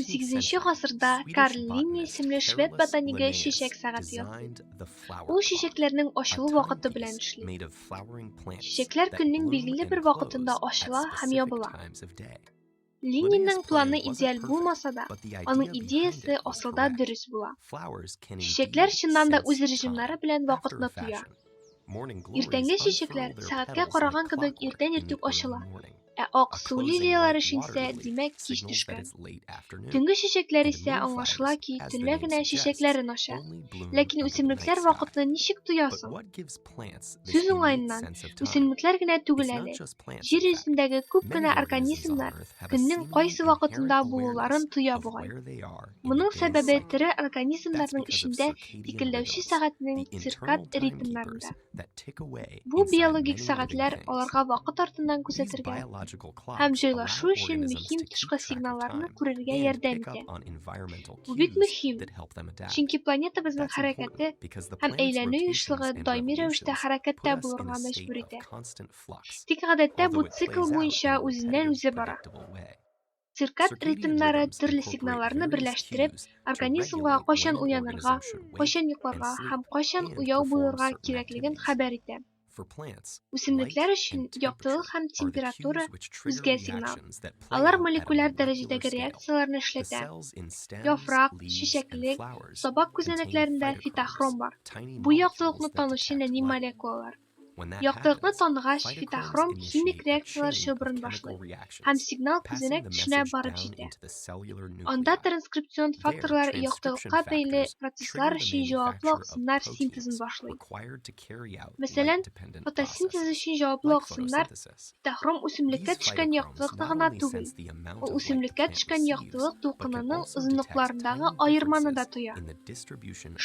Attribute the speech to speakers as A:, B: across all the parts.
A: Сигезенче гасырда Карл Линне исемле швед ботанигы чәчәк сәгате ясый. Ул чәчәкләрнең ачылу вакыты белән эшли. Чәчәкләр көннең билгеле бер вакытында ачыла һәм ябыла. Ленинның планы идеаль булмаса да, аның идеясе асылда дөрес була. Чәчәкләр чыннан да үз режимнары белән вакытны тоя. Иртәнге чәчәкләр сәгатькә караган кебек иртән иртүк ачыла, ә ак су лилияләре шиңсә, димәк, кич төшкән. Төнге чәчәкләр исә аңлашыла ки, төнлә генә чәчәкләрен ача. Ләкин үсемлекләр вакытны ничек тоя соң? Сүз уңаеннан, үсемлекләр генә түгел әле, Җир йөзендәге күп кенә организмнар көннең кайсы вакытында булуларын тоя бугай. Моның сәбәбе тере организмнарның эчендә тикелләүче сәгатьнең циркад ритмнарында. Бу биологик сәгатьләр аларга вакыт артыннан күзәтергә һәм җайлашу өчен мөһим тышкы сигналларны күрергә ярдәм итә. Бу бик мөһим, чөнки планетабызның хәрәкәте һәм әйләнү ешлыгы даими рәвештә хәрәкәттә булырга мәҗбүр итә. Тик гадәттә бу цикл буенча үзеннән-үзе бара. Циркад ритмнары төрле сигналларны берләштереп, организмга кайчан уянырга, кайчан йокларга һәм кайчан уяу булырга кирәклеген хәбәр итә. Үсемлекләр өчен яктылык һәм температура үзгә сигнал. Алар молекуляр дәрәҗәдәге реакцияләрне эшләтә. Яфрак, чәчәклек, сабак күзәнәкләрендә фитохром бар. Бу яктылыкны танучы нәни молекулалар. Яктылыкны таныгач, фитохром химик реакцияләр чылбырын башлый һәм сигнал күзәнәк төшенә барып җитә. Анда транскрипцион факторлар яктылыкка бәйле процесслар өчен җаваплы аксымнар синтезын башлый. Мәсәлән, фотосинтез өчен җаваплы аксымнар Цветохром үсемлеккә төшкән яктылыкны гына түгел, ул үсемлеккә төшкән яктылык дулкынының озынлыкларындагы аерманы да тоя.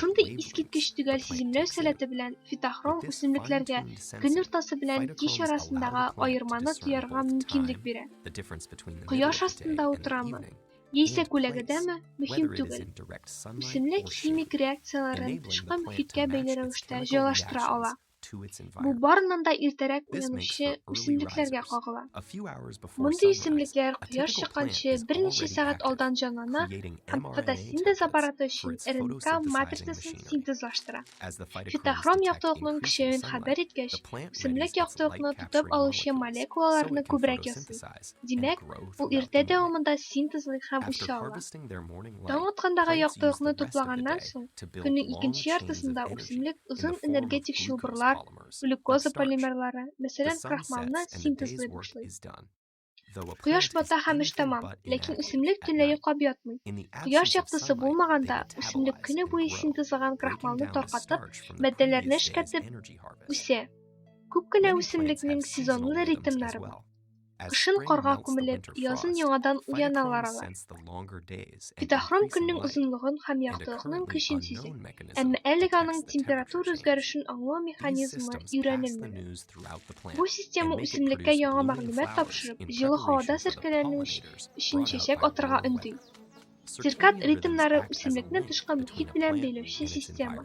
A: Шундый искиткеч төгәл сиземләү сәләте белән фитохром үсемлекләргә көн уртасы белән кич арасындагы аерманы тоярга мөмкинлек бирә. Кояш астында утырамы, яисә күләгәдәме, мөһим түгел. Үсемлек химик реакцияләрен тышкы мөхиткә бәйле рәвештә җайлаштыра ала. Бу барыннан да иртәрәк уянучы үсемлекләргә кагыла. Мондый үсемлекләр кояш чыкканчы берничә сәгать алдан җанлана һәм фотосинтез аппараты өчен РНК матрицасын синтезлаштыра. Фитохром яктылыкның көчәюен хәбәр иткәч, үсемлек яктылыкны тотып алучы молекулаларны күбрәк ясый. Димәк, ул иртә дәвамында синтезлый һәм үсә ала. Таң аткандагы яктылыкны туплаганнан соң, көннең икенче яртысында үсемлек озын энергетик чылбырлар, глюкоза полимерлары, мәсәлән, крахмалны синтезлый башлый. Кояш бата һәм эш тәмам, ләкин үсемлек төнлә йоклап ятмый. Кояш яктысы булмаганда, үсемлек көне буе синтезлаган крахмалны таркатып, матдәләрне эшкәртеп үсә. Күп кенә үсемлекнең сезонлы ритмнары бар. Кышын карга күмелеп, язын яңадан уяналар алар. Фитохром көннең озынлыгын һәм яктылыкның көчен сизи. Әмма әлеге аның температура үзгәрешен аңлау механизмы өйрәнелмәгән. Бу система үсемлеккә яңа мәгълүмат тапшырып, җылы һавада серкәләнү өчен чәчәк атырга өнди. Циркад ритмнары үсемлекне тышкы мохит белән бәйләүче система.